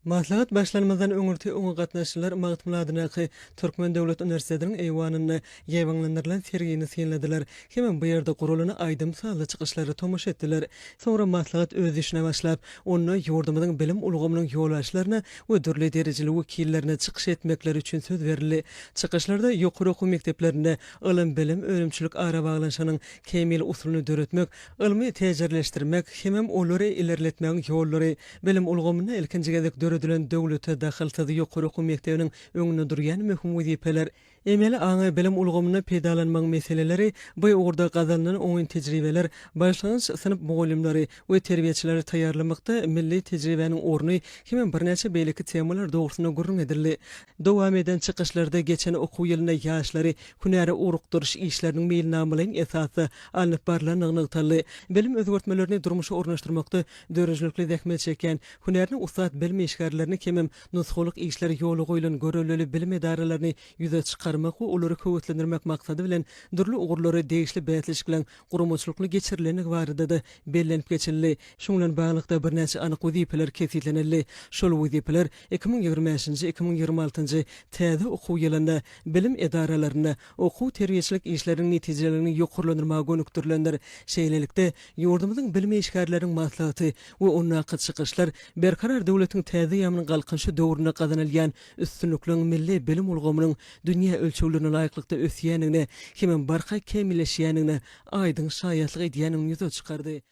Maslahat başlanmazdan öňürti oňa gatnaşyjylar Magtymguly adyndaky Türkmen döwlet uniwersitetiniň eýwanynda ýaýbaňlandyrylan sergini synladylar hemem bu ýerde guralan aýdym-sazly çykyşlara tomaşa etdiler. Soňra maslahat öz işine başlap, onda ýurdumyzyň bilim ulgamynyň ýolbaşçylaryna we dürli derejeli wekillerine çykyş etmekleri üçin söz berildi. Çykyşlarda ýokary okuw mekdeplerinde ylym-bilim önümçilik arabaglanyşygynyň kämil usulyny döretmek, ylmy täjirleşdirmek hemem olary ilerletmegiň ýollary, Bilim ulgamynda ilkinji gezek döredilen döwlete dahylsyz ýokary okuw mekdebiniň öňünde durýan möhüm wezipeler, emeli aňy bilim ulgamynda peýdalanmagyň meseleleri, bu ugurda gazanylan oňyn tejribeler, başlangyç synp mugallymlary we terbiýeçileri taýýarlamakda milli tejribäniň orny hemem birnäçe beýleki temalar dogrusynda gürrüň edildi. Dowam eden çykyşlarda geçen okuw ýylynda ýaşlary hünäre ugrukdyryş işleriniň meýilnamalaýyn esasda alnyp barlandygy nygtaldy. Bilim özgertmelerini durmuşa ornaşdyrmakda Döredijilikli zähmet çekýän, hünärine ussat bilim işgärlerini hemem nusgalyk işleri ýola goýlan görellili bilim edaralaryny ýüze çykarmak we olary höweslendirmek maksady bilen dürli ugurlary degişli bäsleşikleň guramaçylykly geçirilendigi barada-da bellenip geçildi. Şunuň bilen baglylykda, birnäçe anyk wezipeler kesgitlenildi. Şol wezipeler iki müň ýigrimi bäşinji, iki müň ýigrimi altynjy täze okuw ýylynda bilim edaralarynda okuw-terbiýeçilik işleriniň netijeleriniň ýokarlandyrmaga gönükdirilendir. Şeýlelikde, Ýurdumyzyň bilim işgärleriniň maslahaty we ondaky çykyşlar Berkarar döwletiň täze ýamynyň Galkynyşy döwründe gazanylýan üstünlikleriň milli bilim ulgamynyň dünýä ölçeglerine laýyklykda ösýändigine hemem barha kämilleşýändigine aýdyň şaýatlyk edýändigini ýüze çykardy.